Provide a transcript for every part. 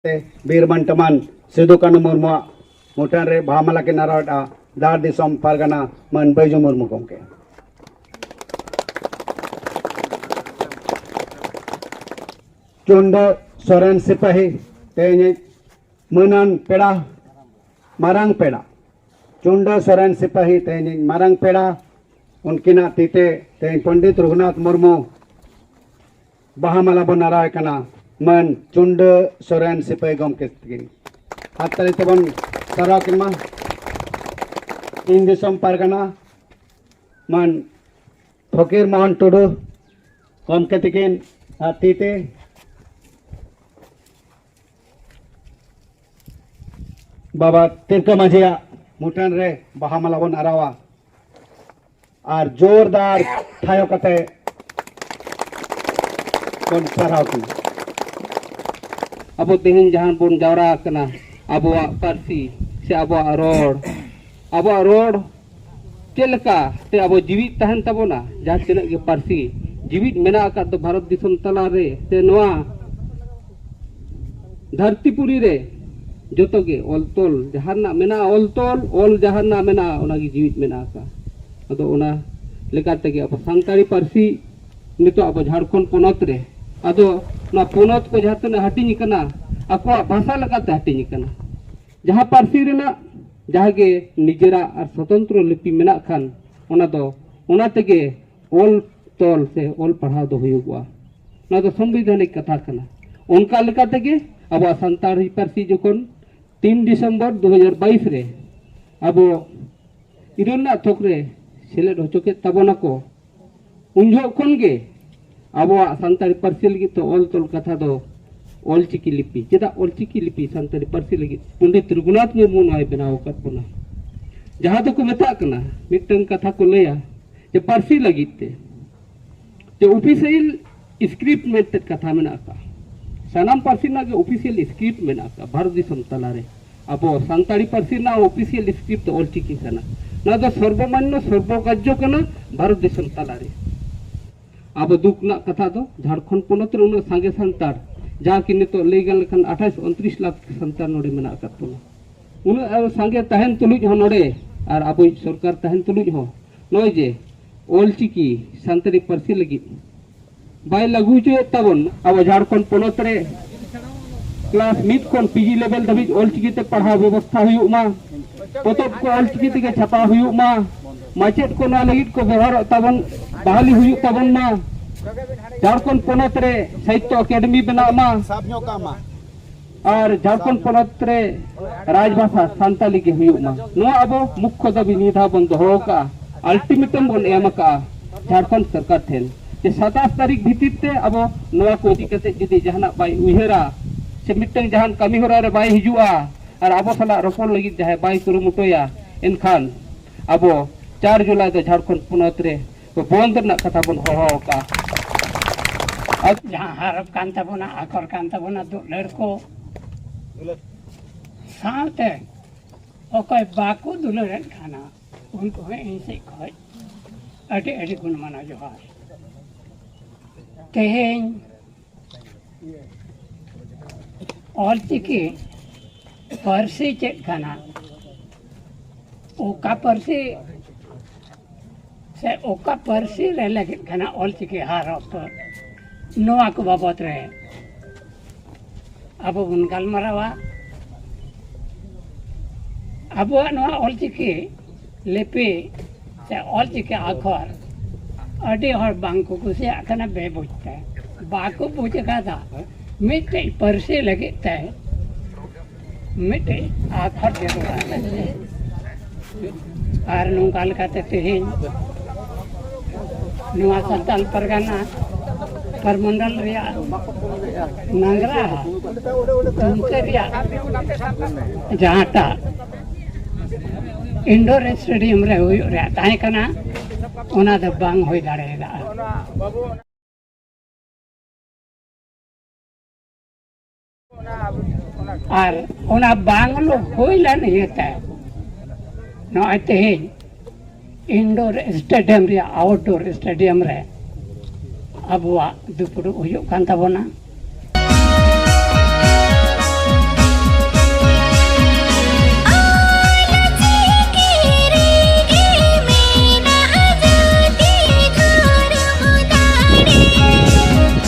ᱵᱤᱨ ᱢᱟᱱ ᱴᱟᱢᱟᱱ ᱥᱤᱫᱩ ᱠᱟᱹᱱᱩ ᱢᱩᱨᱢᱩᱣᱟᱜ ᱢᱩᱴᱷᱟᱹᱱ ᱨᱮ ᱵᱟᱦᱟ ᱢᱟᱞᱟ ᱠᱤᱱ ᱟᱨᱟᱣᱮᱫᱼᱟ ᱫᱟᱲ ᱫᱤᱥᱚᱢ ᱯᱟᱨᱜᱟᱱᱟ ᱢᱟᱱ ᱵᱟᱹᱭᱡᱩ ᱢᱩᱨᱢᱩ ᱜᱚᱢᱠᱮ ᱪᱩᱱᱰᱟᱹ ᱥᱚᱨᱮᱱ ᱥᱤᱯᱟᱹᱦᱤ ᱛᱮᱦᱮᱧ ᱢᱟᱹᱱᱟᱱ ᱯᱮᱲᱟ ᱢᱟᱨᱟᱝ ᱯᱮᱲᱟ ᱪᱩᱱᱰᱟᱹ ᱥᱚᱨᱮᱱ ᱥᱤᱯᱟᱹᱦᱤ ᱛᱮᱦᱮᱧ ᱢᱟᱨᱟᱝ ᱯᱮᱲᱟ ᱩᱱᱠᱤᱱᱟᱜ ᱛᱤᱛᱮ ᱛᱮᱦᱮᱧ ᱯᱚᱱᱰᱤᱛ ᱨᱚᱜᱷᱩᱱᱟᱛᱷ ᱢᱩᱨᱢᱩ ᱵᱟᱦᱟ ᱢᱟᱞᱟ ᱵᱚᱱ ᱟᱨᱟᱣ ᱮ ᱠᱟᱱᱟ ᱢᱟᱹᱱ ᱪᱩᱱᱰᱟᱹ ᱥᱚᱨᱮᱱ ᱥᱤᱯᱟᱹᱭ ᱜᱚᱢᱠᱮ ᱛᱟᱹᱠᱤᱱ ᱟᱨ ᱛᱟᱹᱞᱤ ᱛᱮᱵᱚᱱ ᱥᱟᱨᱟᱣ ᱠᱤᱱ ᱢᱟ ᱤᱧ ᱫᱤᱥᱚᱢ ᱯᱟᱨᱜᱟᱱᱟ ᱢᱟᱹᱱ ᱯᱷᱚᱠᱤᱨ ᱢᱳᱦᱚᱱ ᱴᱩᱰᱩ ᱜᱚᱢᱠᱮ ᱛᱟᱹᱠᱤᱱ ᱟᱨ ᱛᱤ ᱛᱮ ᱵᱟᱵᱟ ᱛᱤᱞᱠᱟᱹ ᱢᱟᱹᱡᱷᱤᱭᱟᱜ ᱢᱩᱴᱷᱟᱹᱱ ᱨᱮ ᱵᱟᱦᱟ ᱢᱟᱞᱟ ᱵᱚᱱ ᱟᱨᱟᱣᱟ ᱟᱨ ᱡᱳᱨᱫᱟᱨ ᱛᱷᱟᱭᱚ ᱠᱟᱛᱮ ᱵᱚᱱ ᱥᱟᱨᱦᱟᱣ ᱠᱤᱱᱟ ᱟᱵᱚ ᱛᱮᱦᱮᱧ ᱡᱟᱦᱟᱸ ᱵᱚᱱ ᱡᱟᱣᱨᱟ ᱟᱠᱟᱱᱟ ᱟᱵᱚᱣᱟᱜ ᱯᱟᱹᱨᱥᱤ ᱥᱮ ᱟᱵᱚᱣᱟᱜ ᱨᱚᱲ ᱟᱵᱚᱣᱟᱜ ᱨᱚᱲ ᱪᱮᱫ ᱞᱮᱠᱟ ᱛᱮ ᱟᱵᱚ ᱡᱤᱣᱤᱫ ᱛᱟᱦᱮᱱ ᱛᱟᱵᱚᱱᱟ ᱡᱟᱦᱟᱸ ᱛᱤᱱᱟᱹᱜ ᱜᱮ ᱯᱟᱹᱨᱥᱤ ᱡᱤᱣᱤᱫ ᱢᱮᱱᱟᱜ ᱟᱠᱟᱫ ᱫᱚ ᱵᱷᱟᱨᱚᱛ ᱫᱤᱥᱚᱢ ᱛᱟᱞᱟᱨᱮ ᱥᱮ ᱱᱚᱣᱟ ᱫᱷᱟᱹᱨᱛᱤ ᱯᱩᱨᱤ ᱨᱮ ᱡᱚᱛᱚ ᱜᱮ ᱚᱞ ᱛᱚᱞ ᱡᱟᱦᱟᱸ ᱨᱮᱱᱟᱜ ᱢᱮᱱᱟᱜᱼᱟ ᱚᱞ ᱛᱚᱞ ᱚᱞ ᱡᱟᱦᱟᱸ ᱨᱮᱱᱟᱜ ᱢᱮᱱᱟᱜᱼᱟ ᱚᱱᱟ ᱜᱮ ᱡᱤᱣᱤᱫ ᱢᱮᱱᱟᱜ ᱟᱠᱟᱫᱼᱟ ᱟᱫᱚ ᱚᱱᱟ ᱞᱮᱠᱟ ᱛᱮᱜᱮ ᱟᱵᱚ ᱥᱟᱱᱛᱟᱲᱤ ᱯᱟᱹᱨᱥᱤ ᱱᱤᱛᱚᱜ ᱟᱵᱚ ᱡᱷᱟᱲᱠᱷᱚᱸᱰ ᱯᱚᱱᱚᱛ ᱨᱮ ᱟᱫᱚ ᱱᱚᱣᱟ ᱯᱚᱱᱚᱛ ᱠᱚ ᱡᱟᱦᱟᱸ ᱛᱤᱱᱟᱹᱜ ᱦᱟᱹᱴᱤᱧ ᱟᱠᱟᱱᱟ ᱟᱠᱚᱣᱟᱜ ᱵᱷᱟᱥᱟ ᱞᱮᱠᱟᱛᱮ ᱦᱟᱹᱴᱤᱧ ᱟᱠᱟᱱᱟ ᱡᱟᱦᱟᱸ ᱯᱟᱹᱨᱥᱤ ᱨᱮᱱᱟᱜ ᱡᱟᱦᱟᱸ ᱜᱮ ᱱᱤᱡᱮᱨᱟᱜ ᱟᱨ ᱥᱚᱛᱚᱱᱛᱨᱚ ᱞᱤᱯᱤ ᱢᱮᱱᱟᱜ ᱠᱷᱟᱱ ᱚᱱᱟ ᱫᱚ ᱚᱱᱟ ᱛᱮᱜᱮ ᱚᱞ ᱛᱚᱞ ᱥᱮ ᱚᱞ ᱯᱟᱲᱦᱟᱣ ᱫᱚ ᱦᱩᱭᱩᱜᱚᱜᱼᱟ ᱱᱚᱣᱟ ᱫᱚ ᱥᱚᱝᱵᱤᱫᱷᱟᱱᱤᱠ ᱠᱟᱛᱷᱟ ᱠᱟᱱᱟ ᱚᱱᱠᱟ ᱞᱮᱠᱟ ᱛᱮᱜᱮ ᱟᱵᱚᱣᱟᱜ ᱥᱟᱱᱛᱟᱲᱤ ᱯᱟᱹᱨᱥᱤ ᱡᱚᱠᱷᱚᱱ ᱛᱤᱱ ᱰᱤᱥᱮᱢᱵᱚᱨ ᱫᱩ ᱦᱟᱡᱟᱨ ᱵᱟᱭᱤᱥ ᱨᱮ ᱟᱵᱚ ᱤᱨᱟᱹᱞ ᱨᱮᱱᱟᱜ ᱛᱷᱚᱠ ᱨᱮ ᱥᱮᱞᱮᱫ ᱦᱚᱪᱚ ᱠᱮᱫ ᱛᱟᱵᱚᱱᱟᱠᱚ ᱩᱱ ᱡᱚᱦᱚᱜ ᱠᱷᱚᱱ ᱜᱮ ᱟᱵᱚᱣᱟᱜ ᱥᱟᱱᱛᱟᱲᱤ ᱯᱟᱹᱨᱥᱤ ᱞᱟᱹᱜᱤᱫ ᱛᱮ ᱚᱞ ᱛᱚᱞ ᱠᱟᱛᱷᱟ ᱫᱚ ᱚᱞᱪᱤᱠᱤ ᱞᱤᱯᱤ ᱪᱮᱫᱟᱜ ᱚᱞᱪᱤᱠᱤ ᱞᱤᱯᱤ ᱥᱟᱱᱛᱟᱲᱤ ᱯᱟᱹᱨᱥᱤ ᱞᱟᱹᱜᱤᱫ ᱯᱚᱸᱰᱤᱛ ᱨᱚᱜᱷᱩᱱᱟᱛᱷ ᱢᱩᱨᱢᱩ ᱱᱚᱣᱟᱭ ᱵᱮᱱᱟᱣ ᱟᱠᱟᱫ ᱵᱚᱱᱟ ᱡᱟᱦᱟᱸ ᱫᱚᱠᱚ ᱢᱮᱛᱟᱜ ᱠᱟᱱᱟ ᱢᱤᱫᱴᱟᱝ ᱠᱟᱛᱷᱟ ᱠᱚ ᱞᱟᱹᱭᱟ ᱡᱮ ᱯᱟᱹᱨᱥᱤ ᱞᱟᱹᱜᱤᱫ ᱛᱮ ᱡᱮ ᱚᱯᱷᱤᱥᱤᱭᱟᱞ ᱥᱠᱨᱤᱯᱴ ᱢᱮᱱᱛᱮ ᱠᱟᱛᱷᱟ ᱢᱮᱱᱟᱜ ᱟᱠᱟᱫᱼᱟ ᱥᱟᱱᱟᱢ ᱯᱟᱹᱨᱥᱤ ᱨᱮᱱᱟᱜ ᱜᱮ ᱚᱯᱷᱤᱥᱤᱭᱟᱞ ᱥᱠᱨᱤᱯᱴ ᱢᱮᱱᱟᱜ ᱟᱠᱟᱫᱼᱟ ᱵᱷᱟᱨᱚᱛ ᱫᱤᱥᱚᱢ ᱛᱟᱞᱟᱨᱮ ᱟᱵᱚ ᱥᱟᱱᱛᱟᱲᱤ ᱯᱟᱹᱨᱥᱤ ᱨᱮᱱᱟᱜ ᱚᱯᱷᱤᱥᱤᱭᱟᱞ ᱥᱠᱨᱤᱯᱴ ᱫᱚ ᱚᱞᱪᱤᱠᱤ ᱠᱟᱱᱟ ᱱᱚᱣᱟ ᱫᱚ ᱥᱚᱨᱵᱚᱢᱟᱱᱱᱚ ᱥᱚᱨᱵᱚᱜᱟᱡᱽᱡᱚ ᱠᱟᱱᱟ ᱵᱷᱟᱨᱚᱛ ᱫᱤᱥᱚᱢ ᱛᱟᱞᱟᱨᱮ ᱟᱵᱚ ᱫᱩᱠ ᱨᱮᱱᱟᱜ ᱠᱟᱛᱷᱟ ᱫᱚ ᱡᱷᱟᱲᱠᱷᱚᱸᱰ ᱯᱚᱱᱚᱛ ᱨᱮ ᱩᱱᱟᱹᱜ ᱥᱟᱸᱜᱮ ᱥᱟᱱᱛᱟᱲ ᱡᱟᱦᱟᱸ ᱠᱤ ᱱᱤᱛᱚᱜ ᱞᱟᱹᱭ ᱜᱟᱱ ᱞᱮᱠᱷᱟᱱ ᱟᱴᱷᱟᱥ ᱩᱱᱛᱨᱤᱥ ᱞᱟᱠᱷ ᱥᱟᱱᱛᱟᱲ ᱱᱚᱰᱮ ᱢᱮᱱᱟᱜ ᱟᱠᱟᱫ ᱵᱚᱱᱟ ᱩᱱᱟᱹᱜ ᱥᱟᱸᱜᱮ ᱛᱟᱦᱮᱱ ᱛᱩᱞᱩᱡ ᱦᱚᱸ ᱱᱚᱰᱮ ᱟᱨ ᱟᱵᱚᱭᱤᱡ ᱥᱚᱨᱠᱟᱨ ᱛᱟᱦᱮᱱ ᱛᱩᱞᱩᱡ ᱦᱚᱸ ᱱᱚᱜᱼᱚᱭ ᱡᱮ ᱚᱞᱪᱤᱠᱤ ᱥᱟᱱᱛᱟᱲᱤ ᱯᱟᱹᱨᱥᱤ ᱞᱟᱹᱜᱤᱫ ᱵᱟᱭ ᱞᱟᱹᱜᱩ ᱦᱚᱪᱚᱭᱮᱫ ᱛᱟᱵᱚᱱ ᱟᱵᱚ ᱡᱷᱟᱲᱠᱷᱚᱸᱰ ᱯᱚᱱᱚᱛ ᱨᱮ ᱠᱞᱟᱥ ᱢᱤᱫ ᱠᱷᱚᱱ ᱯᱤᱡᱤ ᱞᱮᱵᱮᱞ ᱫᱷᱟᱹᱵᱤᱡ ᱚᱞᱪᱤᱠᱤ ᱛᱮ ᱯᱟᱲᱦᱟᱣ ᱵᱮᱵᱚᱥᱛᱷᱟ ᱦᱩᱭᱩᱜ ᱢᱟ ᱯᱚᱛᱚᱵ ᱠᱚ ᱚᱞᱪᱤᱠᱤ ᱛᱮᱜᱮ ᱪᱷᱟᱯᱟ ᱦᱩᱭᱩᱜ ᱢᱟ ᱢᱟᱪᱮᱫ ᱠᱚ ᱱᱚᱣᱟ ᱞᱟᱹᱜᱤᱫ ᱠᱚ ᱵᱮᱵᱚᱦᱟᱨᱚᱜ ᱛᱟᱵᱚᱱ ᱵᱟᱦᱟᱞᱤ ᱦᱩᱭᱩᱜ ᱛᱟᱵᱚᱱ ᱢᱟ ᱡᱷᱟᱲᱠᱷᱚᱸᱰ ᱯᱚᱱᱚᱛ ᱨᱮ ᱥᱟᱦᱤᱛᱛᱚ ᱮᱠᱟᱰᱮᱢᱤ ᱵᱮᱱᱟᱜ ᱢᱟ ᱟᱨ ᱡᱷᱟᱲᱠᱷᱚᱸᱰ ᱯᱚᱱᱚᱛ ᱨᱮ ᱨᱟᱡᱽ ᱵᱷᱟᱥᱟ ᱥᱟᱱᱛᱟᱞᱤ ᱜᱮ ᱦᱩᱭᱩᱜ ᱢᱟ ᱱᱚᱣᱟ ᱟᱵᱚ ᱢᱩᱠᱷᱭᱚ ᱫᱟᱹᱵᱤ ᱱᱤᱭᱟᱹ ᱫᱷᱟᱣ ᱵᱚᱱ ᱫᱚᱦᱚ ᱟᱠᱟᱫᱼᱟ ᱟᱞᱴᱤᱢᱮᱴᱟᱢ ᱵᱚᱱ ᱮᱢ ᱟᱠᱟᱫᱼᱟ ᱡᱷᱟᱲᱠᱷᱚᱸᱰ ᱥᱚᱨᱠᱟᱨ ᱴᱷᱮᱱ ᱡᱮ ᱥᱟᱛᱟᱥ ᱛᱟᱹᱨᱤᱠᱷ ᱵᱷᱤᱛᱤᱨ ᱛᱮ ᱟᱵᱚ ᱱᱚᱣᱟ ᱠᱚ ᱤᱫᱤ ᱠᱟᱛᱮ ᱡᱩᱫᱤ ᱡᱟᱦᱟᱱᱟᱜ ᱵᱟᱭ ᱩᱭᱦᱟᱹᱨᱟ ᱥᱮ ᱢᱤᱫᱴᱟᱝ ᱡᱟᱦᱟᱱ ᱠᱟᱹᱢᱤ ᱦᱚᱨᱟ ᱨᱮ ᱵᱟᱭ ᱦᱤᱡᱩᱜᱼᱟ ᱟᱨ ᱟᱵᱚ ᱥᱟᱞᱟᱜ ᱨᱚᱯᱚᱲ ᱞᱟᱹᱜᱤᱫ ᱡᱟᱦᱟᱸᱭ ᱵᱟᱭ ᱠᱩᱨᱩᱢᱩᱴᱩᱭᱟ ᱮᱱᱠᱷᱟᱱ ᱟᱵᱚ ᱪᱟᱨ ᱡᱩᱞᱟᱭ ᱫᱚ ᱡᱷᱟᱲᱠᱷᱚᱸᱰ ᱯᱚᱱᱚᱛ ᱨᱮ ᱵᱚᱱᱫ ᱨᱮᱱᱟᱜ ᱠᱟᱛᱷᱟ ᱵᱚᱱ ᱦᱚᱦᱚ ᱟᱠᱟᱜᱼᱟ ᱡᱟᱦᱟᱸ ᱦᱟᱨᱚᱯ ᱠᱟᱱ ᱛᱟᱵᱚᱱᱟ ᱟᱠᱚᱨ ᱠᱟᱱ ᱛᱟᱵᱚᱱᱟ ᱫᱩᱞᱟᱹᱲ ᱠᱚ ᱥᱟᱶᱛᱮ ᱚᱠᱚᱭ ᱵᱟᱠᱚ ᱫᱩᱞᱟᱹᱲᱮᱫ ᱠᱟᱱᱟ ᱩᱱᱠᱩ ᱦᱚᱸ ᱤᱧ ᱥᱮᱫ ᱠᱷᱚᱡ ᱟᱹᱰᱤ ᱟᱹᱰᱤ ᱜᱩᱱ ᱢᱟᱱᱟᱣ ᱡᱚᱦᱟᱨ ᱛᱮᱦᱮᱧ ᱚᱞᱪᱤᱠᱤ ᱯᱟᱹᱨᱥᱤ ᱪᱮᱫ ᱠᱟᱱᱟ ᱚᱠᱟ ᱯᱟᱹᱨᱥᱤ ᱥᱮ ᱚᱠᱟ ᱯᱟᱹᱨᱥᱤ ᱨᱮ ᱞᱟᱹᱜᱤᱫ ᱠᱟᱱᱟ ᱚᱞᱪᱤᱠᱤ ᱦᱟᱨ ᱚᱠᱛᱚ ᱱᱚᱣᱟ ᱠᱚ ᱵᱟᱵᱚᱛ ᱨᱮ ᱟᱵᱚ ᱵᱚᱱ ᱜᱟᱞᱢᱟᱨᱟᱣᱟ ᱟᱵᱚᱣᱟᱜ ᱱᱚᱣᱟ ᱚᱞᱪᱤᱠᱤ ᱞᱤᱯᱤ ᱥᱮ ᱚᱞᱪᱤᱠᱤ ᱟᱠᱷᱚᱨ ᱟᱹᱰᱤ ᱦᱚᱲ ᱵᱟᱝᱠᱚ ᱠᱩᱥᱤᱭᱟᱜ ᱠᱟᱱᱟ ᱵᱮᱵᱩᱡᱽ ᱛᱮ ᱵᱟᱠᱚ ᱵᱩᱡᱽ ᱟᱠᱟᱫᱟ ᱢᱤᱫᱴᱮᱡ ᱯᱟᱹᱨᱥᱤ ᱞᱟᱹᱜᱤᱫ ᱛᱮ ᱢᱤᱫᱴᱮᱡ ᱟᱠᱷᱚᱨ ᱡᱟᱹᱨᱩᱲᱟ ᱟᱨ ᱱᱚᱝᱠᱟ ᱞᱮᱠᱟᱛᱮ ᱛᱮᱦᱮᱧ ᱱᱚᱣᱟ ᱥᱟᱱᱛᱟᱞ ᱯᱟᱨᱜᱟᱱᱟ ᱯᱟᱨᱢᱚᱱᱰᱚᱞ ᱨᱮᱭᱟᱜ ᱱᱟᱝᱜᱽᱨᱟ ᱩᱱᱠᱩ ᱨᱮᱭᱟᱜ ᱡᱟᱦᱟᱸᱴᱟᱜ ᱤᱱᱰᱳᱨ ᱥᱴᱮᱰᱤᱭᱟᱢ ᱨᱮ ᱦᱩᱭᱩᱜ ᱨᱮᱭᱟᱜ ᱛᱟᱦᱮᱸ ᱠᱟᱱᱟ ᱚᱱᱟ ᱫᱚ ᱵᱟᱝ ᱦᱩᱭ ᱫᱟᱲᱮᱭᱟᱫᱟ ᱟᱨ ᱚᱱᱟ ᱵᱟᱝ ᱦᱩᱭ ᱞᱮᱱ ᱤᱭᱟᱹᱛᱮ ᱱᱚᱜᱼᱚᱭ ᱛᱮᱦᱮᱧ ᱤᱱᱰᱳᱨ ᱥᱴᱮᱰᱤᱭᱟᱢ ᱨᱮᱭᱟᱜ ᱟᱣᱩᱴᱰᱳᱨ ᱥᱴᱮᱰᱤᱭᱟᱢ ᱨᱮ ᱟᱵᱚᱣᱟᱜ ᱫᱩᱯᱲᱩᱵ ᱦᱩᱭᱩᱜ ᱠᱟᱱ ᱛᱟᱵᱚᱱᱟ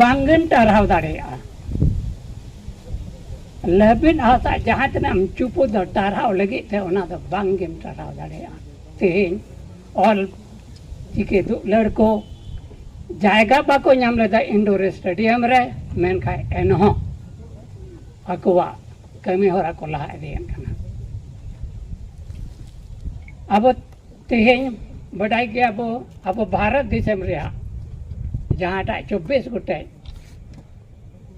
ᱵᱟᱝᱜᱮᱢ ᱴᱟᱨᱦᱟᱣ ᱫᱟᱲᱮᱭᱟᱜᱼᱟ ᱞᱟᱹᱵᱤᱫ ᱦᱟᱥᱟ ᱡᱟᱦᱟᱸ ᱛᱤᱱᱟᱹᱜ ᱮᱢ ᱪᱩᱯᱩ ᱫᱚ ᱴᱟᱨᱦᱟᱣ ᱞᱟᱹᱜᱤᱫ ᱛᱮ ᱚᱱᱟ ᱫᱚ ᱵᱟᱝᱜᱮᱢ ᱴᱟᱨᱦᱟᱣ ᱫᱟᱲᱮᱭᱟᱜᱼᱟ ᱛᱮᱦᱮᱧ ᱚᱞ ᱪᱤᱠᱤ ᱫᱩᱞᱟᱹᱲ ᱠᱚ ᱡᱟᱭᱜᱟ ᱵᱟᱠᱚ ᱧᱟᱢ ᱞᱮᱫᱟ ᱤᱱᱰᱳᱨ ᱥᱴᱮᱰᱤᱭᱟᱢ ᱨᱮ ᱢᱮᱱᱠᱷᱟᱱ ᱮᱱᱦᱚᱸ ᱟᱠᱚᱣᱟᱜ ᱠᱟᱹᱢᱤ ᱦᱚᱨᱟ ᱠᱚ ᱞᱟᱦᱟ ᱤᱫᱤᱭᱮᱫ ᱠᱟᱱᱟ ᱟᱵᱚ ᱛᱮᱦᱮᱧ ᱵᱟᱰᱟᱭ ᱜᱮᱭᱟ ᱵᱚ ᱟᱵᱚ ᱵᱷᱟᱨᱚᱛ ᱫᱤᱥᱚᱢ ᱨᱮᱭᱟᱜ ᱡᱟᱦᱟᱸᱴᱟᱜ ᱪᱚᱵᱵᱤᱥ ᱜᱚᱴᱮᱡ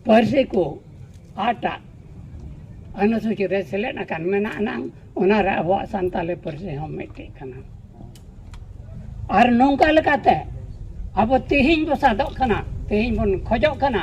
ᱯᱟᱹᱨᱥᱤ ᱠᱚ ᱟᱴᱟᱜ ᱟᱹᱱᱩᱥᱩᱪᱤ ᱨᱮ ᱥᱮᱞᱮᱫ ᱟᱠᱟᱱ ᱢᱮᱱᱟᱜ ᱟᱱᱟᱝ ᱚᱱᱟᱨᱮ ᱟᱵᱚᱣᱟᱜ ᱥᱟᱱᱛᱟᱞᱤ ᱯᱟᱹᱨᱥᱤ ᱦᱚᱸ ᱢᱤᱫᱴᱮᱡ ᱠᱟᱱᱟ ᱟᱨ ᱱᱚᱝᱠᱟ ᱞᱮᱠᱟᱛᱮ ᱟᱵᱚ ᱛᱮᱦᱮᱧ ᱵᱚ ᱥᱟᱫᱚᱜ ᱠᱟᱱᱟ ᱛᱮᱦᱮᱧ ᱵᱚᱱ ᱠᱷᱚᱡᱚᱜ ᱠᱟᱱᱟ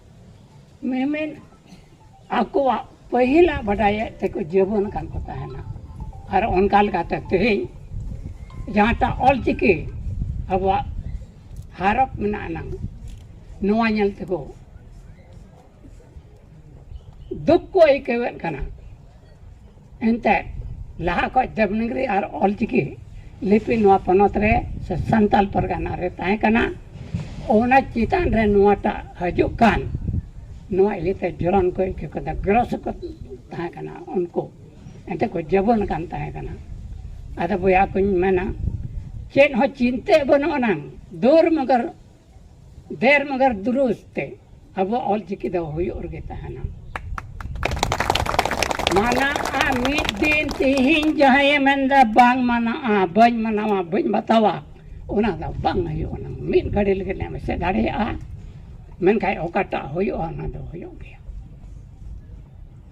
ᱢᱮᱢᱮᱱ ᱟᱠᱚᱣᱟᱜ ᱯᱟᱹᱦᱤᱞᱟᱜ ᱵᱟᱰᱟᱭᱮᱫ ᱛᱮᱠᱚ ᱡᱤᱵᱚᱱ ᱠᱟᱱ ᱠᱚ ᱛᱟᱦᱮᱱᱟ ᱟᱨ ᱚᱱᱠᱟ ᱞᱮᱠᱟᱛᱮ ᱛᱮᱦᱮᱧ ᱡᱟᱦᱟᱸᱴᱟᱜ ᱚᱞᱪᱤᱠᱤ ᱟᱵᱚᱣᱟᱜ ᱦᱟᱨᱚᱯ ᱢᱮᱱᱟᱜ ᱟᱱᱟᱝ ᱱᱚᱣᱟ ᱧᱮᱞ ᱛᱮᱠᱚ ᱫᱩᱠ ᱠᱚ ᱟᱹᱭᱠᱟᱹᱣᱮᱫ ᱠᱟᱱᱟ ᱮᱱᱛᱮ ᱞᱟᱦᱟ ᱠᱷᱚᱱ ᱫᱮᱵᱽᱱᱟᱜᱽᱨᱤ ᱟᱨ ᱚᱞᱪᱤᱠᱤ ᱞᱤᱯᱤ ᱱᱚᱣᱟ ᱯᱚᱱᱚᱛ ᱨᱮ ᱥᱮ ᱥᱟᱱᱛᱟᱲ ᱯᱟᱨᱜᱟᱱᱟ ᱨᱮ ᱛᱟᱦᱮᱸ ᱠᱟᱱᱟ ᱚᱱᱟ ᱪᱮᱛᱟᱱ ᱨᱮ ᱱᱚᱣᱟᱴᱟᱜ ᱦᱤᱡᱩᱜ ᱠᱟᱱ ᱱᱚᱣᱟ ᱤᱭᱟᱹᱛᱮ ᱡᱚᱨᱚᱱ ᱠᱚ ᱤᱠᱟᱹ ᱠᱟᱫᱟ ᱜᱨᱚᱥ ᱠᱚ ᱛᱟᱦᱮᱸ ᱠᱟᱱᱟ ᱩᱱᱠᱩ ᱮᱱᱛᱮ ᱠᱚ ᱡᱟᱹᱵᱚᱱ ᱠᱟᱱ ᱛᱟᱦᱮᱸ ᱠᱟᱱᱟ ᱟᱫᱚ ᱵᱚᱭᱦᱟ ᱠᱚᱧ ᱢᱮᱱᱟ ᱪᱮᱫ ᱦᱚᱸ ᱪᱤᱱᱛᱟᱹᱜ ᱵᱟᱹᱱᱩᱜ ᱟᱱᱟᱝ ᱫᱩᱨ ᱢᱚᱜᱚᱨ ᱰᱷᱮᱨ ᱢᱟᱜᱟᱨ ᱫᱩᱨᱩᱥ ᱛᱮ ᱟᱵᱚ ᱚᱞ ᱪᱤᱠᱤ ᱫᱚ ᱦᱩᱭᱩᱜ ᱨᱮᱜᱮ ᱛᱟᱦᱮᱱᱟ ᱢᱟᱱᱟᱜᱼᱟ ᱢᱤᱫ ᱫᱤᱱ ᱛᱤᱦᱤᱧ ᱡᱟᱦᱟᱸᱭᱮ ᱢᱮᱱᱫᱟ ᱵᱟᱝ ᱢᱟᱱᱟᱜᱼᱟ ᱵᱟᱹᱧ ᱢᱟᱱᱟᱣᱟ ᱵᱟᱹᱧ ᱵᱟᱛᱟᱣᱟ ᱚᱱᱟ ᱫᱚ ᱵᱟᱝ ᱦᱩᱭᱩᱜᱼᱟ ᱚᱱᱟ ᱢᱤᱫ ᱜᱷᱟᱹᱲᱤ ᱞᱟᱹᱜᱤᱫ ᱮᱢ ᱮᱥᱮᱫ ᱫᱟᱲᱮᱭᱟᱜᱼᱟ ᱢᱮᱱᱠᱷᱟᱱ ᱚᱠᱟᱴᱟᱜ ᱦᱩᱭᱩᱜᱼᱟ ᱚᱱᱟ ᱫᱚ ᱦᱩᱭᱩᱜ ᱜᱮᱭᱟ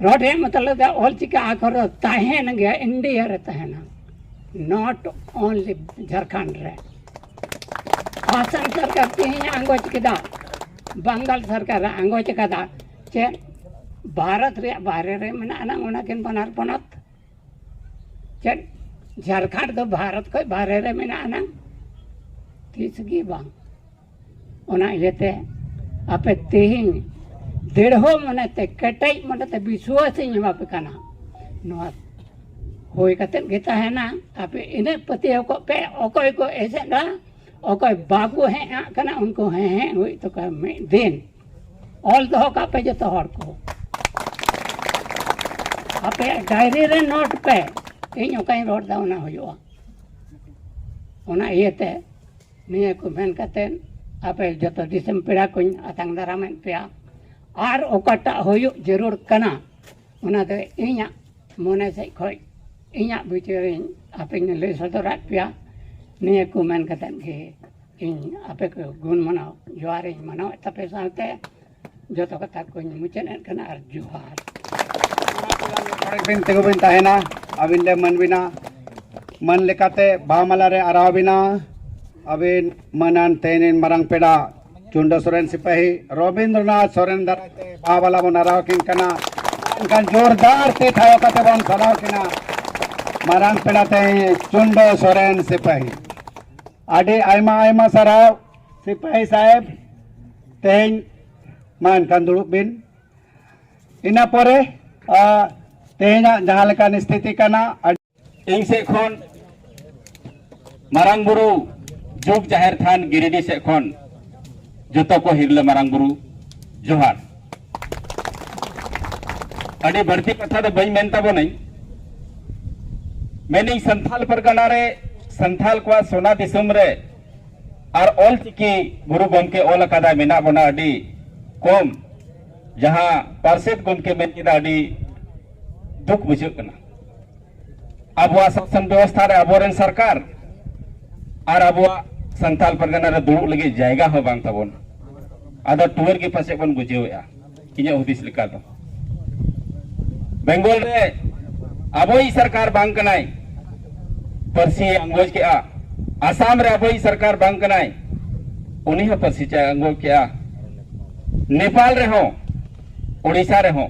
ᱨᱚᱰᱮ ᱢᱚᱛᱞᱚᱵ ᱫᱚ ᱚᱞ ᱪᱤᱠᱤ ᱟᱠᱷᱚᱨ ᱫᱚ ᱛᱟᱦᱮᱱ ᱜᱮᱭᱟ ᱤᱱᱰᱤᱭᱟ ᱨᱮ ᱛᱟᱦᱮᱱᱟ ᱱᱚᱴ ᱚᱱᱞᱤ ᱡᱷᱟᱲᱠᱷᱚᱸᱰ ᱨᱮ ᱟᱥᱟᱢ ᱥᱚᱨᱠᱟᱨ ᱛᱮᱦᱮᱧ ᱟᱸᱜᱚᱪ ᱠᱮᱫᱟ ᱵᱟᱝᱜᱟᱞ ᱥᱚᱨᱠᱟᱨ ᱟᱸᱜᱚᱪ ᱠᱟᱫᱟ ᱪᱮᱫ ᱵᱷᱟᱨᱚᱛ ᱨᱮᱭᱟᱜ ᱵᱟᱦᱨᱮ ᱨᱮ ᱢᱮᱱᱟᱜ ᱟᱱᱟᱝ ᱚᱱᱟᱠᱤᱱ ᱵᱟᱱᱟᱨ ᱯᱚᱱᱚᱛ ᱪᱮᱫ ᱡᱷᱟᱲᱠᱷᱚᱸᱰ ᱫᱚ ᱵᱷᱟᱨᱚᱛ ᱠᱷᱚᱱ ᱵᱟᱦᱨᱮ ᱨᱮ ᱢᱮᱱᱟᱜ ᱟᱱᱟᱝ ᱛᱤᱥ ᱜᱮ ᱵᱟᱝ ᱚᱱᱟ ᱤᱭᱟᱹᱛᱮ ᱟᱯᱮ ᱛᱮᱦᱮᱧ ᱫᱮᱲᱦᱚ ᱢᱚᱱᱮᱛᱮ ᱠᱮᱴᱮᱡ ᱢᱚᱱᱮᱛᱮ ᱵᱤᱥᱣᱟᱥ ᱤᱧ ᱮᱢᱟᱯᱮ ᱠᱟᱱᱟ ᱱᱚᱣᱟ ᱦᱩᱭ ᱠᱟᱛᱮᱫ ᱜᱮ ᱛᱟᱦᱮᱱᱟ ᱟᱯᱮ ᱤᱱᱟᱹᱜ ᱯᱟᱹᱛᱭᱟᱹᱣ ᱠᱚᱜ ᱯᱮ ᱚᱠᱚᱭ ᱠᱚ ᱮᱥᱮᱫᱟ ᱚᱠᱚᱭ ᱵᱟᱠᱚ ᱦᱮᱡ ᱟᱜ ᱠᱟᱱᱟ ᱩᱱᱠᱩ ᱦᱮᱸ ᱦᱮᱸ ᱦᱩᱭᱩᱜ ᱛᱟᱠᱚᱣᱟ ᱢᱤᱫ ᱫᱤᱱ ᱚᱞ ᱫᱚᱦᱚ ᱠᱟᱜ ᱯᱮ ᱡᱚᱛᱚ ᱦᱚᱲ ᱠᱚ ᱟᱯᱮᱭᱟᱜ ᱰᱟᱭᱨᱤ ᱨᱮ ᱱᱳᱴ ᱯᱮ ᱤᱧ ᱚᱠᱟᱧ ᱨᱚᱲ ᱮᱫᱟ ᱚᱱᱟ ᱦᱩᱭᱩᱜᱼᱟ ᱚᱱᱟ ᱤᱭᱟᱹᱛᱮ ᱱᱤᱭᱟᱹ ᱠᱚ ᱢᱮᱱ ᱠᱟᱛᱮᱫ ᱟᱯᱮ ᱡᱚᱛᱚ ᱫᱤᱥᱚᱢ ᱯᱮᱲᱟ ᱠᱚᱧ ᱟᱛᱟᱝ ᱫᱟᱨᱟᱢᱮᱫ ᱯᱮᱭᱟ ᱟᱨ ᱚᱠᱟᱴᱟᱜ ᱦᱩᱭᱩᱜ ᱡᱟᱹᱨᱩᱲ ᱠᱟᱱᱟ ᱚᱱᱟ ᱫᱚ ᱤᱧᱟᱹᱜ ᱢᱚᱱᱮ ᱥᱮᱫ ᱠᱷᱚᱱ ᱤᱧᱟᱹᱜ ᱵᱤᱪᱟᱹᱨ ᱤᱧ ᱟᱯᱮ ᱤᱧ ᱞᱟᱹᱭ ᱥᱚᱫᱚᱨᱟᱫ ᱯᱮᱭᱟ ᱱᱤᱭᱟᱹ ᱠᱚ ᱢᱮᱱ ᱠᱟᱛᱮᱫ ᱜᱮ ᱤᱧ ᱟᱯᱮ ᱠᱚ ᱜᱩᱱ ᱢᱟᱱᱟᱣ ᱡᱚᱦᱟᱨ ᱤᱧ ᱢᱟᱱᱟᱣᱮᱫ ᱛᱟᱯᱮ ᱥᱟᱶᱛᱮ ᱡᱚᱛᱚ ᱠᱟᱛᱷᱟ ᱠᱚᱧ ᱢᱩᱪᱟᱹᱫ ᱮᱫ ᱠᱟᱱᱟ ᱟᱨ ᱡᱚᱦᱟᱨ ᱵᱤᱱ ᱛᱤᱸᱜᱩ ᱵᱤᱱ ᱛᱟᱦᱮᱱᱟ ᱟᱹᱵᱤᱱ ᱞᱮ ᱢᱟᱹᱱ ᱵᱤᱱᱟ ᱢᱟᱹᱱ ᱞᱮᱠᱟᱛᱮ ᱵᱟᱦᱟ ᱢᱟᱞᱟ ᱨᱮ ᱟᱨᱟᱣ ᱵᱤᱱᱟ ᱟᱹᱵᱤᱱ ᱢᱟᱹᱱᱟᱱ ᱛᱮᱦᱮᱧ ᱢᱟᱨᱟᱝ ᱯᱮᱲᱟ ᱪᱩᱱᱰᱟᱹ ᱥᱚᱨᱮᱱ ᱥᱤᱯᱟᱹᱦᱤ ᱨᱚᱵᱤᱱᱫᱨᱚᱱᱟᱛᱷ ᱥᱚᱨᱮᱱ ᱫᱟᱨᱟᱭ ᱛᱮ ᱵᱟᱵᱟᱞᱟ ᱵᱚᱱ ᱟᱨᱟᱣ ᱠᱤᱱ ᱠᱟᱱᱟ ᱮᱱᱠᱷᱟᱱ ᱡᱳᱨᱫᱟᱨ ᱛᱮ ᱴᱷᱟᱶ ᱠᱟᱛᱮ ᱵᱚᱱ ᱥᱟᱨᱦᱟᱣ ᱠᱤᱱᱟ ᱢᱟᱨᱟᱝ ᱯᱮᱲᱟ ᱛᱮᱦᱮᱧ ᱪᱩᱱᱰᱟᱹ ᱥᱚᱨᱮᱱ ᱥᱤᱯᱟᱹᱦᱤ ᱟᱹᱰᱤ ᱟᱭᱢᱟ ᱟᱭᱢᱟ ᱥᱟᱨᱦᱟᱣ ᱥᱤᱯᱟᱹᱦᱤ ᱥᱟᱦᱮᱵᱽ ᱛᱮᱦᱮᱧ ᱢᱟ ᱮᱱᱠᱷᱟᱱ ᱫᱩᱲᱩᱵ ᱵᱤᱱ ᱤᱱᱟᱹ ᱯᱚᱨᱮ ᱛᱮᱦᱮᱧᱟᱜ ᱡᱟᱦᱟᱸ ᱞᱮᱠᱟᱱ ᱥᱛᱷᱤᱛᱤ ᱠᱟᱱᱟ ᱤᱧ ᱥᱮᱫ ᱠᱷᱚᱱ ᱢᱟᱨᱟᱝ ᱵᱩᱨᱩ ᱡᱩᱜᱽ ᱡᱟᱦᱮᱨ ᱛᱷᱟᱱ ᱜᱤᱨᱤᱰᱤ ᱥᱮᱫ ᱠᱷᱚᱱ ᱡᱚᱛᱚ ᱠᱚ ᱦᱤᱨᱞᱟᱹ ᱢᱟᱨᱟᱝ ᱵᱩᱨᱩ ᱡᱚᱦᱟᱨ ᱟᱹᱰᱤ ᱵᱟᱹᱲᱛᱤ ᱠᱟᱛᱷᱟ ᱫᱚ ᱵᱟᱹᱧ ᱢᱮᱱ ᱛᱟᱵᱚᱱᱟᱹᱧ ᱢᱮᱱᱤᱧ ᱥᱟᱱᱛᱷᱟᱞ ᱯᱟᱨᱜᱟᱱᱟ ᱨᱮ ᱥᱟᱱᱛᱷᱟᱞ ᱠᱚᱣᱟᱜ ᱥᱚᱱᱟ ᱫᱤᱥᱚᱢ ᱨᱮ ᱟᱨ ᱚᱞ ᱪᱤᱠᱤ ᱜᱩᱨᱩ ᱜᱚᱢᱠᱮ ᱚᱞ ᱟᱠᱟᱫᱟ ᱢᱮᱱᱟᱜ ᱵᱚᱱᱟ ᱟᱹᱰᱤ ᱠᱚᱢ ᱡᱟᱦᱟᱸ ᱯᱟᱨᱥᱮᱛ ᱜᱚᱢᱠᱮ ᱢᱮᱱ ᱠᱮᱫᱟ ᱟᱹᱰᱤ ᱫᱩᱠ ᱵᱩᱡᱷᱟᱹᱜ ᱠᱟᱱᱟ ᱟᱵᱚᱣᱟᱜ ᱥᱟᱥᱚᱱ ᱵᱮᱵᱚᱥᱛᱷᱟ ᱨᱮ ᱟᱵᱚᱨᱮᱱ ᱥᱚᱨᱠᱟᱨ ᱟᱨ ᱟᱵᱚᱣᱟᱜ ᱥᱟᱱᱛᱟᱞ ᱯᱟᱨᱜᱟᱱᱟ ᱨᱮ ᱫᱩᱲᱩᱵ ᱞᱟᱹᱜᱤᱫ ᱡᱟᱭᱜᱟ ᱦᱚᱸ ᱵᱟᱝ ᱛᱟᱵᱚᱱ ᱟᱫᱚ ᱴᱩᱣᱟᱹᱨ ᱜᱮ ᱯᱟᱥᱮᱡ ᱵᱚᱱ ᱵᱩᱡᱷᱟᱹᱣᱮᱜᱼᱟ ᱤᱧᱟᱹᱜ ᱦᱩᱫᱤᱥ ᱞᱮᱠᱟ ᱫᱚ ᱵᱮᱝᱜᱚᱞ ᱨᱮ ᱟᱵᱚᱭᱤᱡ ᱥᱚᱨᱠᱟᱨ ᱵᱟᱝ ᱠᱟᱱᱟᱭ ᱯᱟᱹᱨᱥᱤ ᱟᱸᱜᱚᱡ ᱠᱮᱜᱼᱟ ᱟᱥᱟᱢ ᱨᱮ ᱟᱵᱚᱭᱤᱡ ᱥᱚᱨᱠᱟᱨ ᱵᱟᱝ ᱠᱟᱱᱟᱭ ᱩᱱᱤ ᱦᱚᱸ ᱯᱟᱹᱨᱥᱤ ᱪᱟᱭ ᱟᱸᱜᱚᱡ ᱠᱮᱜᱼᱟ ᱱᱮᱯᱟᱞ ᱨᱮᱦᱚᱸ ᱳᱰᱤᱥᱟ ᱨᱮᱦᱚᱸ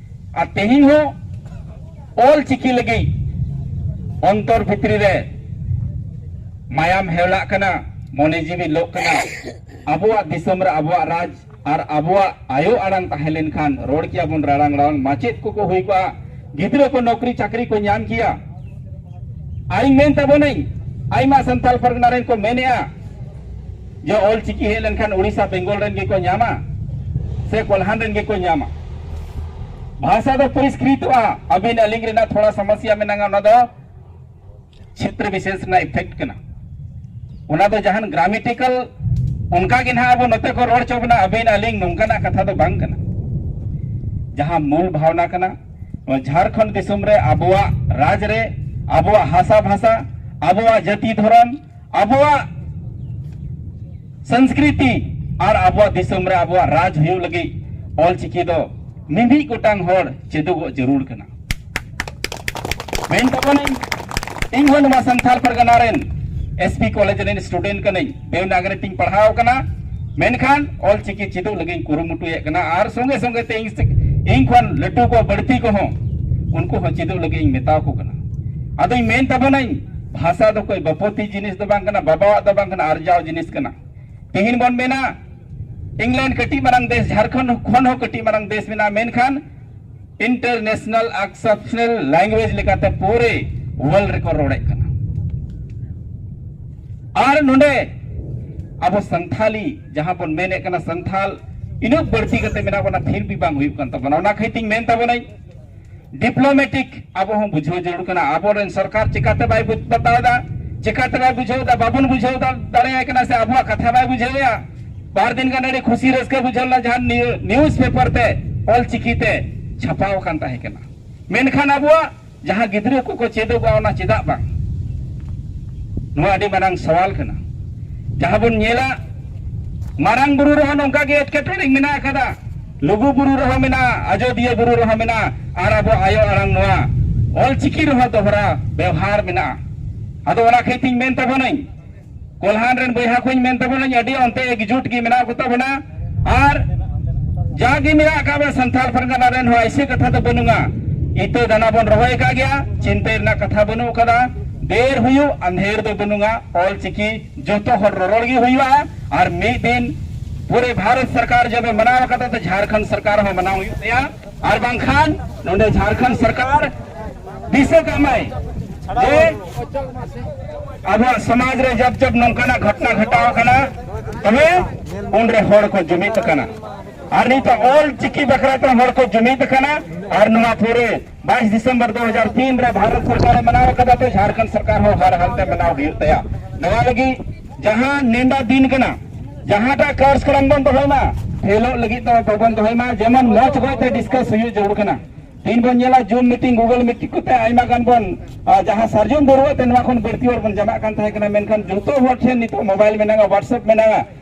ᱟᱨ ᱛᱮᱦᱮᱧ ᱦᱚᱸ ᱚᱞ ᱪᱤᱠᱤ ᱞᱟᱹᱜᱤᱫ ᱚᱱᱛᱚᱨ ᱵᱷᱤᱛᱨᱤ ᱨᱮ ᱢᱟᱭᱟᱢ ᱦᱮᱣᱞᱟᱜ ᱠᱟᱱᱟ ᱢᱚᱱᱮ ᱡᱤᱣᱤ ᱞᱚᱜ ᱠᱟᱱᱟ ᱟᱵᱚᱣᱟᱜ ᱫᱤᱥᱚᱢ ᱨᱮ ᱟᱵᱚᱣᱟᱜ ᱨᱟᱡᱽ ᱟᱨ ᱟᱵᱚᱣᱟᱜ ᱟᱭᱳ ᱟᱲᱟᱝ ᱛᱟᱦᱮᱸ ᱞᱮᱱᱠᱷᱟᱱ ᱨᱚᱲ ᱠᱮᱭᱟ ᱵᱚᱱ ᱨᱟᱲᱟᱝ ᱨᱟᱲᱟᱝ ᱢᱟᱪᱮᱫ ᱠᱚᱠᱚ ᱦᱩᱭ ᱠᱚᱜᱼᱟ ᱜᱤᱫᱽᱨᱟᱹ ᱠᱚ ᱱᱚᱠᱨᱤ ᱪᱟᱹᱠᱨᱤ ᱠᱚ ᱧᱟᱢ ᱠᱮᱭᱟ ᱟᱨᱤᱧ ᱢᱮᱱ ᱛᱟᱵᱚᱱᱟᱹᱧ ᱟᱭᱢᱟ ᱥᱟᱱᱛᱟᱞ ᱯᱟᱨᱜᱟᱱᱟ ᱨᱮᱱ ᱠᱚ ᱢᱮᱱᱮᱜᱼᱟ ᱡᱮ ᱚᱞ ᱪᱤᱠᱤ ᱦᱮᱡ ᱞᱮᱱᱠᱷᱟᱱ ᱳᱰᱤᱥᱟ ᱵᱮᱝᱜᱚᱞ ᱨᱮᱱ ᱜᱮᱠᱚ ᱧᱟᱢᱟ ᱥᱮ ᱠᱚᱞᱦᱟᱱ ᱨᱮᱱ ᱜᱮᱠᱚ ᱧᱟᱢᱟ ᱵᱷᱟᱥᱟ ᱫᱚ ᱯᱚᱨᱤᱥᱠᱨᱤᱛᱚᱜᱼᱟ ᱟᱹᱵᱤᱱ ᱟᱹᱞᱤᱧ ᱨᱮᱱᱟᱜ ᱛᱷᱚᱲᱟ ᱥᱚᱢᱚᱥᱭᱟ ᱢᱮᱱᱟᱜᱼᱟ ᱚᱱᱟ ᱫᱚ ᱪᱷᱮᱛᱨᱚ ᱵᱤᱥᱮᱥ ᱨᱮᱱᱟᱜ ᱤᱯᱷᱮᱠᱴ ᱠᱟᱱᱟ ᱚᱱᱟ ᱫᱚ ᱡᱟᱦᱟᱱ ᱜᱨᱟᱢᱮᱴᱤᱠᱟᱞ ᱚᱱᱠᱟ ᱜᱮ ᱱᱟᱦᱟᱜ ᱟᱵᱚ ᱱᱚᱛᱮ ᱠᱚ ᱨᱚᱲ ᱪᱚ ᱵᱚᱱᱟ ᱟᱹᱵᱤᱱ ᱟᱹᱞᱤᱧ ᱱᱚᱝᱠᱟᱱᱟᱜ ᱠᱟᱛᱷᱟ ᱫᱚ ᱵᱟᱝ ᱠᱟᱱᱟ ᱡᱟᱦᱟᱸ ᱢᱩᱞ ᱵᱷᱟᱣᱱᱟ ᱠᱟᱱᱟ ᱱᱚᱣᱟ ᱡᱷᱟᱲᱠᱷᱚᱸᱰ ᱫᱤᱥᱚᱢ ᱨᱮ ᱟᱵᱚᱣᱟᱜ ᱨᱟᱡᱽ ᱨᱮ ᱟᱵᱚᱣᱟᱜ ᱦᱟᱥᱟ ᱵᱷᱟᱥᱟ ᱟᱵᱚᱣᱟᱜ ᱡᱟᱹᱛᱤ ᱫᱷᱚᱨᱚᱢ ᱟᱵᱚᱣᱟᱜ ᱥᱚᱝᱥᱠᱨᱤᱛᱤ ᱟᱨ ᱟᱵᱚᱣᱟᱜ ᱫᱤᱥᱚᱢ ᱨᱮ ᱟᱵᱚᱣᱟᱜ ᱨᱟᱡᱽ ᱦᱩᱭᱩᱜ ᱞᱟᱹᱜᱤᱫ ᱚᱞᱪᱤᱠᱤ ᱫᱚ ᱢᱤᱢᱤᱫ ᱜᱚᱴᱟᱝ ᱦᱚᱲ ᱪᱮᱫᱚᱜᱚᱜ ᱡᱟᱹᱨᱩᱲ ᱠᱟᱱᱟ ᱢᱮᱱ ᱛᱟᱵᱚᱱᱟᱹᱧ ᱤᱧ ᱦᱚᱸ ᱱᱚᱣᱟ ᱥᱟᱱᱛᱟᱲ ᱯᱟᱨᱜᱟᱱᱟ ᱨᱮᱱ ᱮᱥᱯᱤ ᱠᱚᱞᱮᱡᱽ ᱨᱮᱱ ᱥᱴᱩᱰᱮᱱᱴ ᱠᱟᱹᱱᱟᱹᱧ ᱫᱮᱣᱱᱟᱜᱨᱤ ᱛᱤᱧ ᱯᱟᱲᱦᱟᱣ ᱠᱟᱱᱟ ᱢᱮᱱᱠᱷᱟᱱ ᱚᱞᱪᱤᱠᱤ ᱪᱮᱫᱚᱜ ᱞᱟᱹᱜᱤᱫ ᱠᱩᱨᱩᱢᱩᱴᱩᱭᱮᱫ ᱠᱟᱱᱟ ᱟᱨ ᱥᱚᱸᱜᱮ ᱥᱚᱸᱜᱮ ᱛᱮ ᱤᱧ ᱤᱧ ᱠᱷᱚᱱ ᱞᱟᱹᱴᱩ ᱠᱚ ᱵᱟᱹᱲᱛᱤ ᱠᱚᱦᱚᱸ ᱩᱱᱠᱩ ᱦᱚᱸ ᱪᱮᱫᱚᱜ ᱞᱟᱹᱜᱤᱫ ᱤᱧ ᱢᱮᱛᱟᱣ ᱠᱚ ᱠᱟᱱᱟ ᱟᱫᱚᱧ ᱢᱮᱱ ᱛᱟᱵᱚᱱᱟᱹᱧ ᱵᱷᱟᱥᱟ ᱫᱚ ᱠᱚᱭ ᱵᱟᱯᱚᱛᱤ ᱡᱤᱱᱤᱥ ᱫᱚ ᱵᱟᱝ ᱠᱟᱱᱟ ᱵᱟᱵᱟᱣᱟᱜ ᱫᱚ ᱵᱟᱝ ᱠᱟᱱᱟ ᱟᱨᱡᱟᱣ ᱡᱤᱱᱤᱥ ᱠᱟᱱᱟ ᱛᱮᱦᱮᱧ ᱵᱚᱱ ᱢᱮᱱᱟ ᱤᱝᱞᱮᱱᱰ ᱠᱟᱹᱴᱤᱡ ᱢᱟᱨᱟᱝ ᱫᱮᱥ ᱡᱷᱟᱲᱠᱷᱚᱸᱰ ᱠᱷᱚᱱ ᱦᱚᱸ ᱠᱟᱹᱴᱤᱡ ᱢᱟᱨᱟᱝ ᱫᱮᱥ ᱢᱮᱱᱟᱜᱼᱟ ᱢᱮᱱᱠᱷᱟᱱ ᱤᱱᱴᱟᱨᱱᱮᱥᱱᱟᱞ ᱟᱠᱥᱮᱯᱥᱱᱟᱞ ᱞᱮᱝᱜᱩᱭᱮᱡᱽ ᱞᱮᱠᱟᱛᱮ ᱯᱩᱨᱮ ᱣᱟᱨᱞᱰ ᱨᱮᱠᱚ ᱨᱚᱲᱮᱫ ᱠᱟᱱᱟ ᱟᱨ ᱱᱚᱰᱮ ᱟᱵᱚ ᱥᱟᱱᱛᱷᱟᱞᱤ ᱡᱟᱦᱟᱸ ᱵᱚᱱ ᱢᱮᱱᱮᱫ ᱠᱟᱱᱟ ᱥᱟᱱᱛᱷᱟᱞ ᱤᱱᱟᱹᱜ ᱵᱟᱹᱲᱛᱤ ᱠᱟᱛᱮ ᱢᱮᱱᱟᱜ ᱵᱚᱱᱟ ᱯᱷᱤᱨ ᱵᱤ ᱵᱟᱝ ᱦᱩᱭᱩᱜ ᱠᱟᱱ ᱛᱟᱵᱚᱱᱟ ᱚᱱᱟ ᱠᱷᱟᱹᱛᱤᱨ ᱛᱤᱧ ᱢᱮᱱ ᱛᱟᱵᱚᱱᱟᱹᱧ ᱰᱤᱯᱞᱳᱢᱮᱴᱤᱠ ᱟᱵᱚ ᱦᱚᱸ ᱵᱩᱡᱷᱟᱹᱣ ᱡᱟᱹᱨᱩᱲ ᱠᱟᱱᱟ ᱟᱵᱚᱨᱮᱱ ᱥᱚᱨᱠᱟᱨ ᱪᱤᱠᱟᱛᱮ ᱵᱟᱭ ᱵᱩᱡᱽ ᱵᱟᱛᱟᱣᱮᱫᱟ ᱪᱤᱠᱟᱛᱮ ᱵᱟᱭ ᱵᱩᱡᱷᱟᱹᱣᱮᱫᱟ ᱵᱟᱵᱚᱱ ᱵᱩᱡᱷᱟᱹᱣ ᱫᱟᱲᱮᱭᱟᱭ ᱠᱟᱱᱟ ᱥᱮ ᱟᱵᱚᱣᱟᱜ ᱠᱟᱛᱷᱟ ᱵᱟᱭ ᱵᱩᱡᱷᱟᱹᱣᱮᱫᱟ ᱵᱟᱨ ᱫᱤᱱ ᱜᱟᱱ ᱟᱹᱰᱤ ᱠᱷᱩᱥᱤ ᱨᱟᱹᱥᱠᱟᱹ ᱵᱩᱡᱷᱟᱹᱣ ᱞᱮᱱᱟ ᱡᱟᱦᱟᱸ ᱱᱤᱭᱩᱡᱽ ᱯᱮᱯᱟᱨ ᱛᱮ ᱚᱞ ᱪᱤᱠᱤ ᱛᱮ ᱪᱷᱟᱯᱟᱣ ᱟᱠᱟᱱ ᱛᱟᱦᱮᱸ ᱠᱟᱱᱟ ᱢᱮᱱᱠᱷᱟᱱ ᱟᱵᱚᱣᱟᱜ ᱡᱟᱦᱟᱸ ᱜᱤᱫᱽᱨᱟᱹ ᱠᱚᱠᱚ ᱪᱮᱫᱚᱜᱼᱟ ᱚᱱᱟ ᱪᱮᱫᱟᱜ ᱵᱟᱝ ᱱᱚᱣᱟ ᱟᱹᱰᱤ ᱢᱟᱨᱟᱝ ᱥᱟᱣᱟᱞ ᱠᱟᱱᱟ ᱡᱟᱦᱟᱸ ᱵᱚᱱ ᱧᱮᱞᱟ ᱢᱟᱨᱟᱝ ᱵᱩᱨᱩ ᱨᱮᱦᱚᱸ ᱱᱚᱝᱠᱟ ᱜᱮ ᱮᱴᱠᱮᱴᱚᱬᱮ ᱢᱮᱱᱟᱜ ᱟᱠᱟᱫᱟ ᱞᱩᱜᱩ ᱵᱩᱨᱩ ᱨᱮᱦᱚᱸ ᱢᱮᱱᱟᱜᱼᱟ ᱟᱡᱚᱫᱤᱭᱟᱹ ᱵᱩᱨᱩ ᱨᱮᱦᱚᱸ ᱢᱮᱱᱟᱜᱼᱟ ᱟᱨ ᱟᱵᱚ ᱟᱭᱳ ᱟᱲᱟᱝ ᱱᱚᱣᱟ ᱚᱞ ᱪᱤᱠᱤ ᱨᱮᱦᱚᱸ ᱫᱚᱦᱲᱟ ᱵᱮᱣᱦᱟᱨ ᱢᱮᱱᱟᱜᱼᱟ ᱟᱫᱚ ᱚᱱᱟ ᱠᱷᱟᱹᱛᱤᱨ ᱛᱤᱧ ᱢᱮᱱ ᱛᱟᱵᱚᱱᱟᱹᱧ ᱠᱚᱞᱦᱟᱱ ᱨᱮᱱ ᱵᱚᱭᱦᱟ ᱠᱚᱧ ᱢᱮᱱ ᱛᱟᱵᱚᱱᱟᱹᱧ ᱟᱹᱰᱤ ᱚᱱᱛᱮ ᱮᱠᱡᱩᱴ ᱜᱮ ᱢᱮᱱᱟᱜ ᱠᱚ ᱛᱟᱵᱚᱱᱟ ᱟᱨ ᱡᱟᱜᱮ ᱢᱮᱱᱟᱜ ᱟᱠᱟᱫ ᱵᱚᱱᱟ ᱥᱟᱱᱛᱟᱲ ᱯᱟᱨᱜᱟᱱᱟ ᱨᱮᱱ ᱦᱚᱸ ᱮᱭᱥᱮ ᱠᱟᱛᱷᱟ ᱫᱚ ᱵᱟᱹᱱᱩᱜᱼᱟ ᱤᱛᱟᱹ ᱫᱟᱱᱟ ᱵᱚᱱ ᱨᱚᱦᱚᱭ ᱟᱠᱟᱫ ᱜᱮᱭᱟ ᱪᱤᱱᱛᱟᱹ ᱨᱮᱱᱟᱜ ᱠᱟᱛᱷᱟ ᱵᱟᱹᱱᱩᱜ ᱟᱠᱟᱫᱟ ᱫᱮᱨ ᱦᱩᱭᱩᱜ ᱟᱸᱫᱷᱮᱨ ᱫᱚ ᱵᱟᱹᱱᱩᱜᱼᱟ ᱚᱞ ᱪᱤᱠᱤ ᱡᱚᱛᱚ ᱦᱚᱲ ᱨᱚᱨᱚᱲ ᱜᱮ ᱦᱩᱭᱩᱜᱼᱟ ᱟᱨ ᱢᱤᱫ ᱫᱤᱱ ᱯᱩᱨᱮ ᱵᱷᱟᱨᱚᱛ ᱥᱚᱨᱠᱟᱨ ᱡᱚᱵ ᱮ ᱢᱟᱱᱟᱣ ᱠᱟᱫᱟ ᱛᱚ ᱡᱷᱟᱨᱠᱷᱚᱸᱰ ᱥᱚᱨᱠᱟᱨ ᱦᱚᱸ ᱢᱟᱱᱟᱣ ᱦᱩᱭᱩᱜ ᱛᱟᱭᱟ ᱟᱨ ᱵᱟᱝᱠᱷᱟᱱ ᱱᱚᱰᱮ ᱡᱷᱟᱨᱠᱷᱚᱸᱰ ᱥᱚᱨᱠᱟᱨ ᱫᱤᱥᱟᱹ ᱠᱟᱢᱟᱭ ᱡᱮ ᱟᱵᱚᱣᱟᱜ ᱥᱚᱢᱟᱡᱽ ᱨᱮ ᱡᱟᱵ ᱡᱟᱵ ᱱᱚᱝᱠᱟᱱᱟᱜ ᱜᱷᱚᱴᱱᱟ ᱜᱷᱚᱴᱟᱣ ᱠᱟᱱᱟ ᱛᱚᱵᱮ ᱩᱱᱨᱮ ᱦᱚᱲ ᱠᱚ ᱡᱩᱢᱤᱫ ᱠᱟᱱᱟ ᱟᱨ ᱱᱤᱛᱚᱜ ᱚᱞ ᱪᱤᱠᱤ ᱵᱟᱠᱷᱨᱟ ᱛᱮ ᱦᱚᱲ ᱠᱚ ᱡᱩᱢᱤᱫ ᱠᱟᱱᱟ ᱟᱨ ᱱᱚᱣᱟ ᱯᱩᱨᱮ ᱵᱟᱭᱤᱥ ᱰᱤᱥᱮᱢᱵᱚᱨ ᱫᱩ ᱦᱟᱡᱟᱨ ᱛᱤᱱ ᱨᱮ ᱵᱷᱟᱨᱚᱛ ᱥᱚᱨᱠᱟᱨᱮ ᱢᱟᱱᱟᱣ ᱟᱠᱟᱫᱟ ᱛᱚ ᱡᱷᱟᱲᱠᱷᱚᱸᱰ ᱥᱚᱨᱠᱟᱨ ᱦᱚᱸ ᱦᱟᱨ ᱦᱟᱞᱛᱮ ᱢᱟᱱᱟᱣ ᱦᱩᱭᱩᱜ ᱛᱟᱭᱟ ᱱᱚᱣᱟ ᱞᱟᱹᱜᱤᱫ ᱡᱟᱦᱟᱸ ᱱᱮᱰᱟ ᱫᱤᱱ ᱠᱟᱱᱟ ᱡᱟᱦᱟᱸᱴᱟᱜ ᱠᱟᱨᱡᱚᱠᱨᱚᱢ ᱵᱚᱱ ᱫᱚᱦᱚᱭ ᱢᱟ ᱠᱷᱮᱞᱚᱜ ᱞᱟᱹᱜᱤᱫ ᱫᱚ ᱵᱟᱵᱚᱱ ᱫᱚᱦᱚᱭ ᱢᱟ ᱡᱮᱢᱚᱱ ᱢᱚᱡᱽ ᱚᱠᱚᱭᱛᱮ ᱰᱤᱥᱠᱟᱥ ᱦᱩᱭᱩᱜ ᱡᱟᱹᱨᱩᱲ ᱠᱟᱱᱟ ᱛᱤᱱ ᱵᱚᱱ ᱧᱮᱞᱟ ᱡᱩᱢ ᱢᱤᱴᱤᱝ ᱜᱩᱜᱚᱞ ᱢᱤᱴᱤᱝ ᱠᱚᱛᱮ ᱟᱭᱢᱟ ᱜᱟᱱ ᱵᱚᱱ ᱡᱟᱦᱟᱸ ᱥᱟᱨᱡᱚᱢ ᱵᱟᱹᱨᱩᱣᱟᱹ ᱛᱮ ᱱᱚᱣᱟ ᱠᱷᱚᱱ ᱵᱟᱹᱲᱛᱤ ᱦᱚᱲ ᱵᱚᱱ ᱡᱟᱢᱟᱜ ᱠᱟᱱ ᱛᱟᱦᱮᱸ ᱠᱟᱱᱟ ᱢᱮᱱᱠᱷᱟᱱ ᱡᱚᱛᱚ ᱦᱚᱲ ᱴᱷᱮᱱ ᱱᱤᱛᱚᱜ ᱢᱳᱵᱟᱭᱤᱞ ᱢᱮᱱᱟᱜᱼᱟ ᱦᱚᱣᱟᱴᱥᱮᱯ ᱢᱮᱱᱟᱜᱼᱟ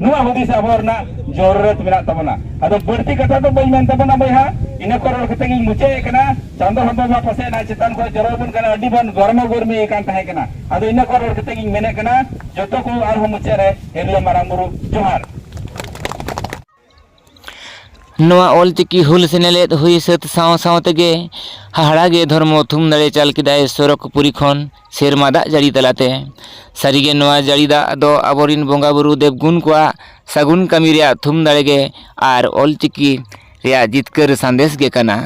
ᱱᱚᱣᱟ ᱦᱩᱫᱤᱥ ᱟᱵᱚ ᱨᱮᱱᱟᱜ ᱡᱚᱨᱩᱨᱟᱛ ᱢᱮᱱᱟᱜ ᱛᱟᱵᱚᱱᱟ ᱟᱫᱚ ᱵᱟᱹᱲᱛᱤ ᱠᱟᱛᱷᱟ ᱫᱚ ᱵᱟᱹᱧ ᱢᱮᱱ ᱛᱟᱵᱚᱱᱟ ᱵᱚᱭᱦᱟ ᱤᱱᱟᱹ ᱠᱚ ᱨᱚᱲ ᱠᱟᱛᱮ ᱜᱤᱧ ᱢᱩᱪᱟᱹᱫ ᱮᱫ ᱠᱟᱱᱟ ᱪᱟᱸᱫᱚ ᱦᱚᱸ ᱵᱟᱵᱟ ᱯᱟᱥᱮ ᱱᱟ ᱪᱮᱛᱟᱱ ᱠᱷᱚᱱ ᱡᱚᱨᱚ ᱟᱵᱚᱱ ᱠᱟᱱᱟ ᱟᱹᱰᱤ ᱵᱚᱱ ᱜᱚᱨᱢᱟ ᱜᱚᱨᱢᱤ ᱟᱠᱟᱱ ᱛᱟᱦᱮᱸ ᱠᱟᱱᱟ ᱟᱫᱚ ᱤᱱᱟᱹ ᱠᱚ ᱨᱚᱲ ᱠᱟᱛᱮ ᱜᱤᱧ ᱢᱮᱱᱮᱫ ᱠᱟᱱᱟ ᱡᱚᱛᱚ ᱠᱚ ᱟᱨᱦᱚᱸ ᱢᱩᱪᱟᱹᱫ ᱨᱮ ᱦᱤᱨᱞᱟᱹ ᱢᱟᱨᱟᱝ ᱵᱩᱨᱩ ᱡᱚᱦᱟᱨ ᱱᱚᱣᱟ ᱚᱞ ᱪᱤᱠᱤ ᱦᱩᱞ ᱥᱮᱱᱮᱞᱮᱫ ᱦᱩᱭ ᱥᱟᱹᱛ ᱥᱟᱶ ᱥᱟᱶ ᱛᱮᱜᱮ ᱦᱟᱦᱟᱲᱟ ᱜᱮ ᱫᱷᱚᱨᱢᱚ ᱛᱷᱩᱢ ᱫᱟᱲᱮ ᱪᱟᱞ ᱠᱮᱫᱟᱭ ᱥᱚᱨᱚᱜᱽ ᱯᱩᱨᱤ ᱠᱷᱚᱱ ᱥᱮᱨᱢᱟ ᱫᱟᱜ ᱡᱟᱹᱲᱤ ᱛᱟᱞᱟᱛᱮ ᱥᱟᱹᱨᱤ ᱜᱮ ᱱᱚᱣᱟ ᱡᱟᱹᱲᱤ ᱫᱟᱜ ᱫᱚ ᱟᱵᱚ ᱨᱮᱱ ᱵᱚᱸᱜᱟ ᱵᱳᱨᱳ ᱫᱮᱵᱽ ᱜᱩᱱ ᱠᱚᱣᱟᱜ ᱥᱟᱹᱜᱩᱱ ᱠᱟᱹᱢᱤ ᱨᱮᱭᱟᱜ ᱛᱷᱩᱢ ᱫᱟᱲᱮ ᱜᱮ ᱟᱨ ᱚᱞ ᱪᱤᱠᱤ ᱨᱮᱭᱟᱜ ᱡᱤᱛᱠᱟᱹᱨ ᱥᱟᱸᱫᱮᱥ ᱜᱮ ᱠᱟᱱᱟ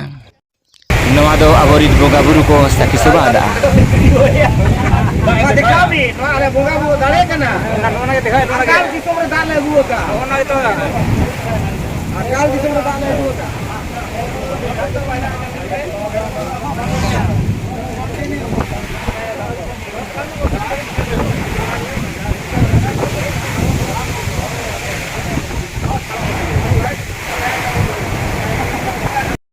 ᱱᱚᱣᱟ ᱫᱚ ᱟᱵᱚᱨᱤᱡ ᱵᱚᱸᱜᱟ ᱵᱩᱨᱩ ᱠᱚ ᱥᱟᱹᱠᱷᱤ ᱥᱚᱵᱷᱟ ᱟᱫᱟ